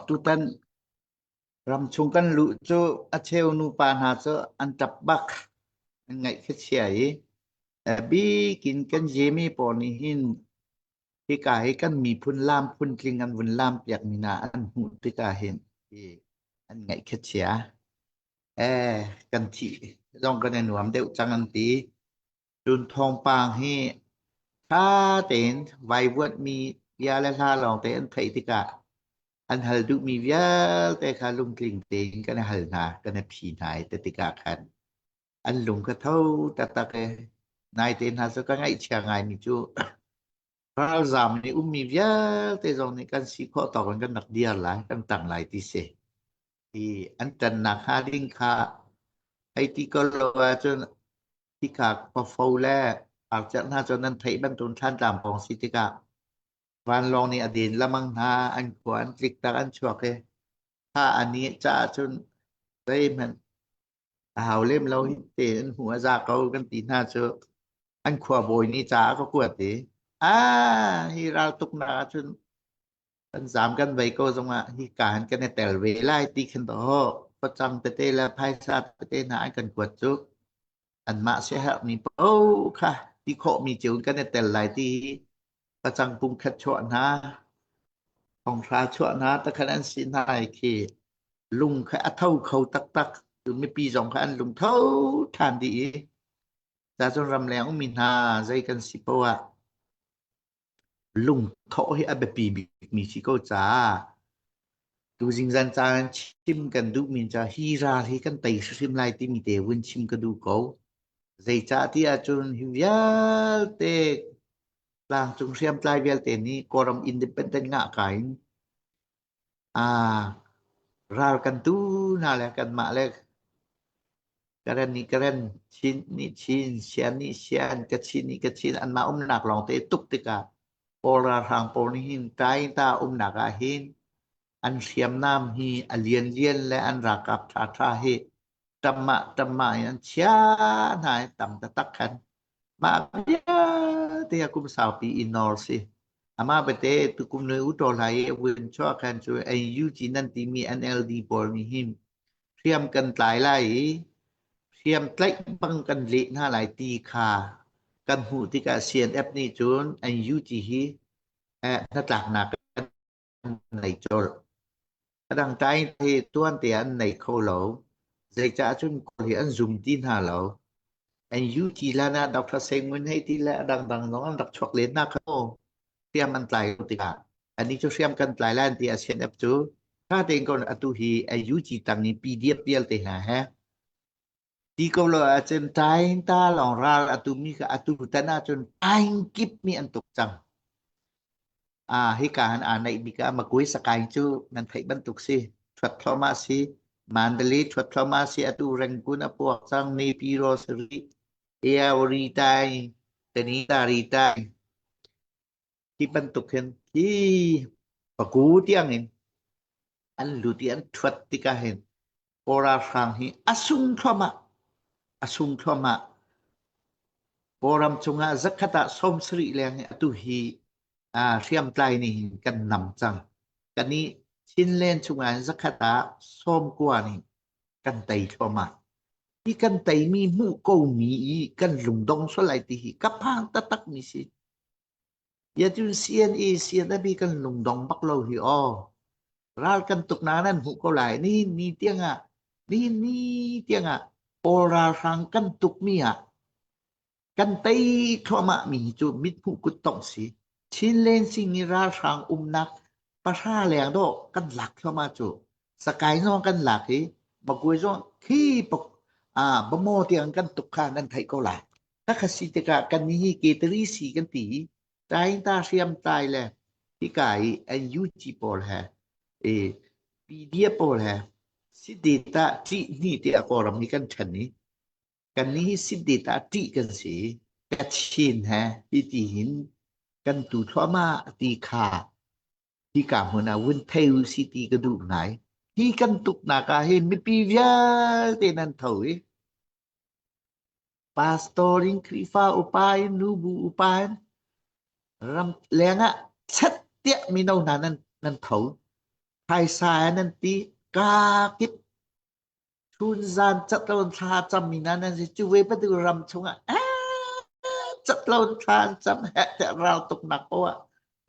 Tutan ramchung kan luh cu a cheu nupa hna cu an ṭap bak an ngaih khuachia i a bik in kan zemi pawl nih hin hika hi kan miphun laam phuntling an vun laam piakmi hna an hmuh tikah hin hi an ngaih khuachia. Kan thih zong kan i nuam deuh cang an ti. Cun thawngpang hi ṭha tein vaivuanhmi bia le hla lawngte an theih tikah an hal duhmi vialte kha lungtling tein kan i hal hna, kan i phi hna i ti tikah khan an lung ka tho taktak i naite hna cu ka ngaihchia ngaimi cu Ralzaam nih ummi vialte zong nih kan si khawh tawk in kan rak dir lai, kan tang lai ti si. I an tannak hnga ding kha ei ti ko lo ahcun hika khuafo le arciah hna cu nan theih bantuin thlantlang pawng si tikah vanlawng nih a din lamang hna an khua an tliktak an chuak i thla a ni ca ahcun zeihmanh A hau lem lo hi te an hmu a za ko kan ti hna cu. An khuabawi nih ca a ka kuat i, a hi raltuk na ahcun kan zam kan vei ko zongah hi ka han kan i tel ve lai ti khin dawh. Facang tete le phaisa tete hna an kan kuat cu anmah siaherhmi paoh kha ti khawhmi ceu in kan i tel lai ti hi Pacangpung khat chuah hna, thonghra chuah hna takhat an si hna i khi lung kha a tho kho taktak mipi zong kha an lung tho ṭhan dih i cacun ramleng ummi hna zei kan si poah lungthawh hi a biapi bikmi si ko caah Tuzing zancaan ah chim kan duhmi cu hi ral hi kan tei hrimhrim lai timi te vun chim ka duh ko. Zeicahtiah ahcun hi vialte tlangcung hriamtlai vialte nih Kawlram independent ngahka in aa ral kan tu hna le kanmah le Karen nih Karen, Chin nih Chin, Sian nih Sian, Kachin nih Kachin anmah umnak lawng te tuk tikah Kawl ralhrang pawl nih hin Taita umnak ah hin an hriamnam hi a lianlian le an ralkap ṭhaṭha hi ṭam mah ṭam mah in an chiah hna i tam taktak khan mah vialte a kum saupi i nawr si. Amah bate tukum le u ṭawlai i a vun chuah khan cu NUG nan timi NLD pawl nih hin Hriam kan tlai lai i hriam tlaih bang kan leh hna lai ti kha kan hmuh tikah CNF nih cun NUG hi hnatlaknak an nei colh. Adang tlai hi tuante an nei kho lo. Zeicah cun kawl hi an zum ti hna lo. NUG lan ah Dr. Seng Ngun hei ti le a dangdang zong an rak chuak len hna kho. hriam an tlai lo tikah anih cu hriam kan tlai lai ti CNF cu ṭha tein ko atu hi a UG tang i PDF vialte hna he ti ko lo ahcun tain ta lawng ral atu mi ka atu tan ahcun aing kip mi an tuk cang a hi ka han aa naih mi ka ma koi sakai cu nan theih bantuk si thuat thloma si mandali thuat thloma si atu rengkun a puak cang ne pi ro sari Eaoritai Tenitaritai hi bantuk hin hi paku tiangin an lut i an ṭhuat tikah hin Kora hrang hi a sung thluahmah a sung thluahmah Kawlram cungah zakhat ah sawmsarih leng i atu hi aa hriamtlai nih hin kan nam cang. Kan i Chinland chungah hin zakhat ah sawmkua nih kan tei thluahmah. Hi kan teimi hmuh komi i kan lungdong sualai ti hi kaphang tatak mi si. Yatun CNE CNB kan lungdong bak lo hi o. Ral kan tuk na nan hmuh ko lai ni ni tiang ah ni ni tiang ah Paul ral hrang kan tuk mi ah Kan tei thluahmahmi cu mithmuh kuttongh si. Chinleng sihni ralhrang umnak pahra leng do kan lak thluahmah cu. Sakai zong kan lak i bagui zong khi bamo tiang kan tuk kha kan theih ko lai. Takha si tikah kan ni hi ketari si kan ti i tai ta hriam tai le tika i NUG pawl he i PDF pawl he si data ṭih hni tiah Kawlram hi kan ṭhen i Kannih Sindit ah ṭih kan si. Kachin he hiti hin kan tu thluahmah ti kha hika hmun ah vun thei u si ti ka duh ngai. Hi kan tuknak ah hin mipi vialte nan tho i pastor in Khrihfa upa in nubu upa in ram leng ah chat tiah mino hna nan nan tho. Phaisa nan ti ka kip Chun zan catlon thla cammin ah nan si cu ve patu ram chungah catlon thla an cam he te rau tuk nak ko ah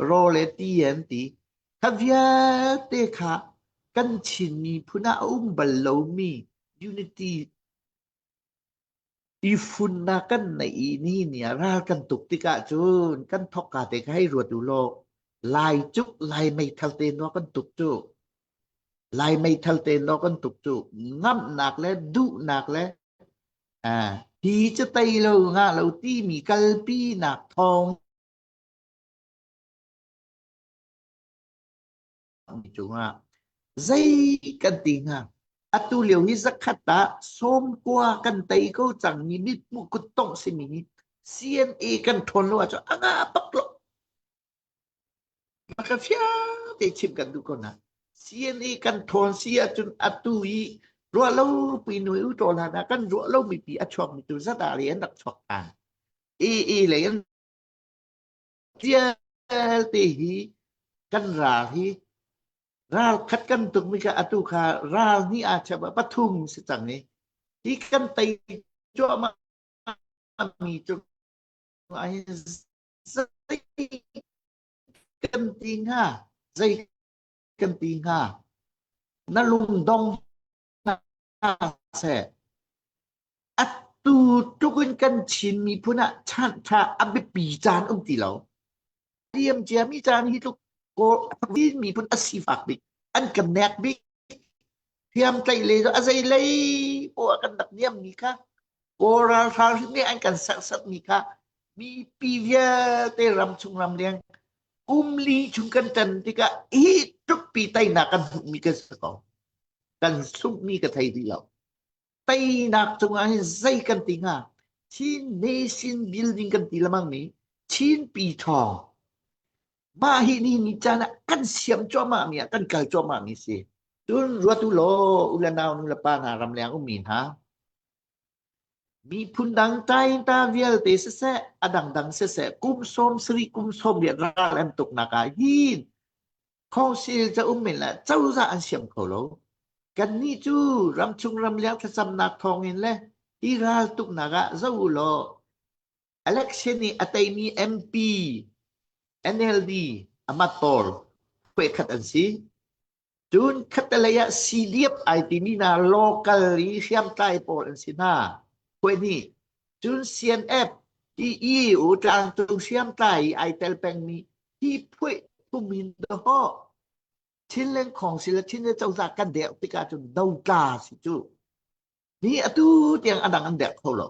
ro le ti an ti kha vialte kha kan Chin miphun ah a um bal lomi unity I funnak kan neih i ni ni ah ral kan tuk tikah cun kan thawk ka te kha hei ruat u law lai cuk lai meithal te no kan tuk cu lai meithal te no kan tuk cu ngamnak le duhnak le à, hi cu tei lo ngah lo ti mi kalpi nak thawng mi cungah zei kan ti hnga atu lio hi zakhat ah sawmkua kan tei ko cang mi mithmu kuttong simi hi CNA kan ṭhawn lo ahcun anga pak lo maka fiang te chim kan duh ko na CNA kan ṭhawn si ahcun atu i ruah lo pi nui u ṭol hana kan ruah lo mi pi a chuak mi tu zat a le an rak chuak ta AA lei an Vialte hi kan ral hi ral khat kan tukmi kha atu kha ral hnih ah chep ah pathum si cang i hi kan tei cuahmah mi cu ah hin zei kan ti hnga zei kan ti hnga na lungdong hna seh atu tluk in kan Chin miphun ah ṭha a biapi caan um ti lo. Diam ciami caan hi tluk miphun a sifak bik an kan nek bik thiam tlaih le a zei lei pawh kan dak niam mi kha kaw ralhral hri an kan serset mi kha mi pi vialte ram chung ram liang kum li chung kan tan tikah hi tuk pi tainak kan hmuh mi kan si ko kan zumhmi ka thei ti lo teinak cungah hin zei kan ti hnga Chin nation building kan ti lamang mi Chin pi thaw mah hi ni ni caan ah kan siam cuahmah mi ah kan kal cuahmah mi si cun ruat u law u le nau nu le pa hna ram leng um mi hna miphun dang tai ta vialte siseh a dang dang siseh kum som sri kum som lian ral an tuk nak ah hin Khawhsil cauk men le cozah an siang kho lo. Kannih cu ramchung ramleng thlacamnak thawngin le i raltuknak ah zoh u law election i a teimi MP, NLD, amat tor khuekhat an si. Cun khatalei ah CDF ai timi hna local i hriamtlai pawl an si hna. Khuai nih cun CNF, TE, u tlangcung hriamtlai i ai tel pengmi Hi phuih tum in dawh Chin Lengkhong si le Chin le Cozah kan dek tik ahcun dotla si cu hi atu tiang adang an dek kho lo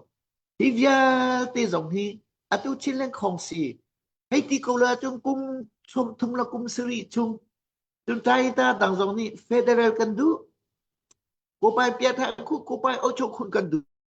hi vialte zong hi atu Chin Lengkhong si hei ti ko le cun kum chum thum la kum sari chung cun tai ta tang zong nih federal kan duh ko pai pia tha khu ko pai ocho khun kan duh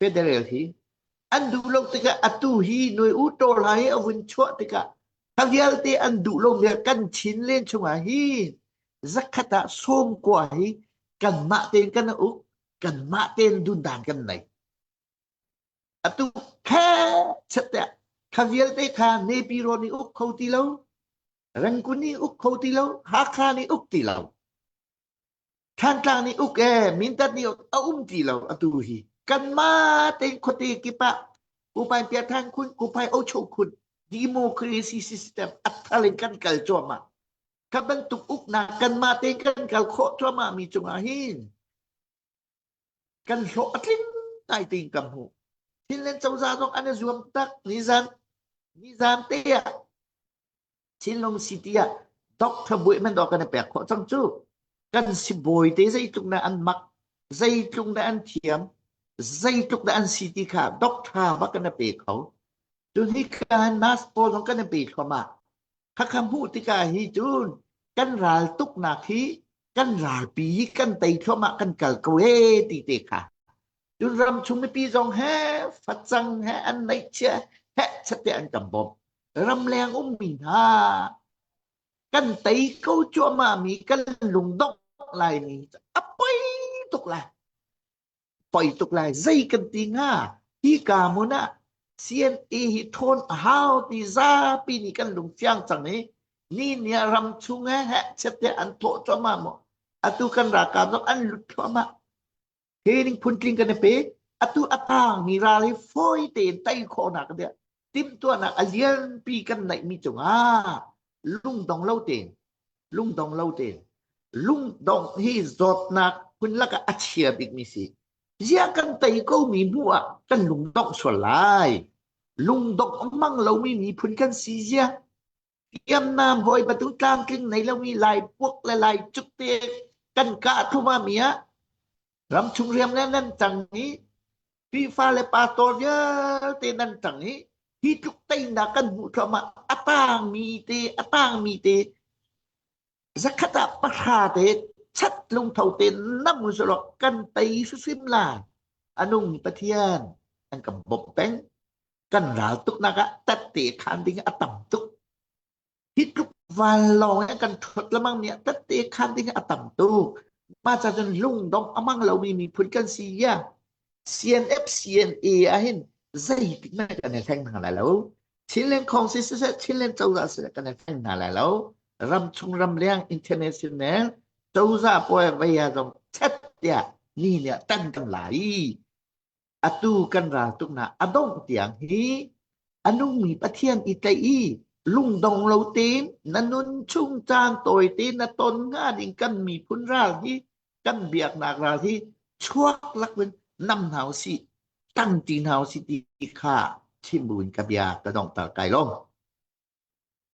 Federal hi an duh lo tikah atu hi noi u tor ha hi a vun chuah tikah talialte an duh lo vial kan chin len chungah hi zakhat ah sawm kua hi kanmah tein kan uk kanmah tein dundan kan nei atu khe chate kha vialte tha nepi ro ni uk kho ti lo rangkun ni uk kho ti lo hakha ni uk ti lo Thantlang nih uk ee Mindat nih a um ti lo atu hi kanmah tein khuate kip ah Kupain Piatthan khun Kupai Ocho khun democracy system a thar in kan kal cuahmah kha bantuk uknak kanmah tein kan kal khawh cuahmahmi cungah hin kan hlawh a tling ngai tein ka hmuh. Chinland cozah zong an i zuam tak. Nizan nizan te ah Chinlung city ah doctor buai man dawh kan i pek khawh cang cu. Kan sibawi te zeitluk na an mak, zeitluk na an thiam, zeitluk na an si ti kha doctor ba kan i pe kho. Tuni khan mask pawl zong kan i pe thluahmah. khakha hmuh tikah hi cun kan ral tuknak hi kan ralpi kan tei thluamah kan kal ko e ti te kha cun ram chung mipi zong he facang he an neihchia he sate an kan bawm ram leng ummi hna kan tei ko cuahmah mi kan lungdok lai mi apoi tuk lai poi tuk lai zei kan ti hnga hi ka mun ah CNA hi thawn a hau ti zapi nih kan lung fiang cang i ni ni ah ram chung he he chette an thawh cuahmah mo atu kan ralkap zong an lut cuahmah he ning phun tling kan i pe atu a tang mi ral hi fawi tein tai khawh nak dia timhtuahnak a lianpi kan naihmi cungah lungdong lo tein lungdong lo tein lungdong hi zawtnak hun lakah a chia bikmi si zia kan tei komi hnu ah kan lungdong sual lai lungdong a mang lomi miphun kan si zia Hriamnam hawihma tu tlamtling nei lomi lai puak le lai cuk te kan ka thum ah mi ah ramchung hriam le nan cang i Khrihfa le pastor vialte nan cang i hi tluk teinak kan hmuh thluahmah a tangmi te a tangmi te zakhat ah pahra te chat lungtho te nam sawrok kan tei susim lai anung Pathian an kan bawmh peng kan ral tuknak ah tatte khan ding a tam tuk hi tluk vanlawng in kan thot lamang nih tatte khan ding a tam tuk ma cha cun lungdom amang lomi miphun kan si ya CNF CNA ahin zeitik na kan thleng hna lai lo Chinland Congress se Chinland cozah se kan thleng hna lai lo ram chung ram liang international cozah poe vaya zong chat ya ni nia tan kan lai atu kan raltuknak a dongh tiang hi a nungmi Pathian i tlaih i lungdong lo tein na nun chung caan tawi tein na ton hnga ding kan miphun ral hi kan biaknak ral hi chuak lakin nam hna u si tang ti hna u si ti kha chim buin ka bia ka dongtar kai lom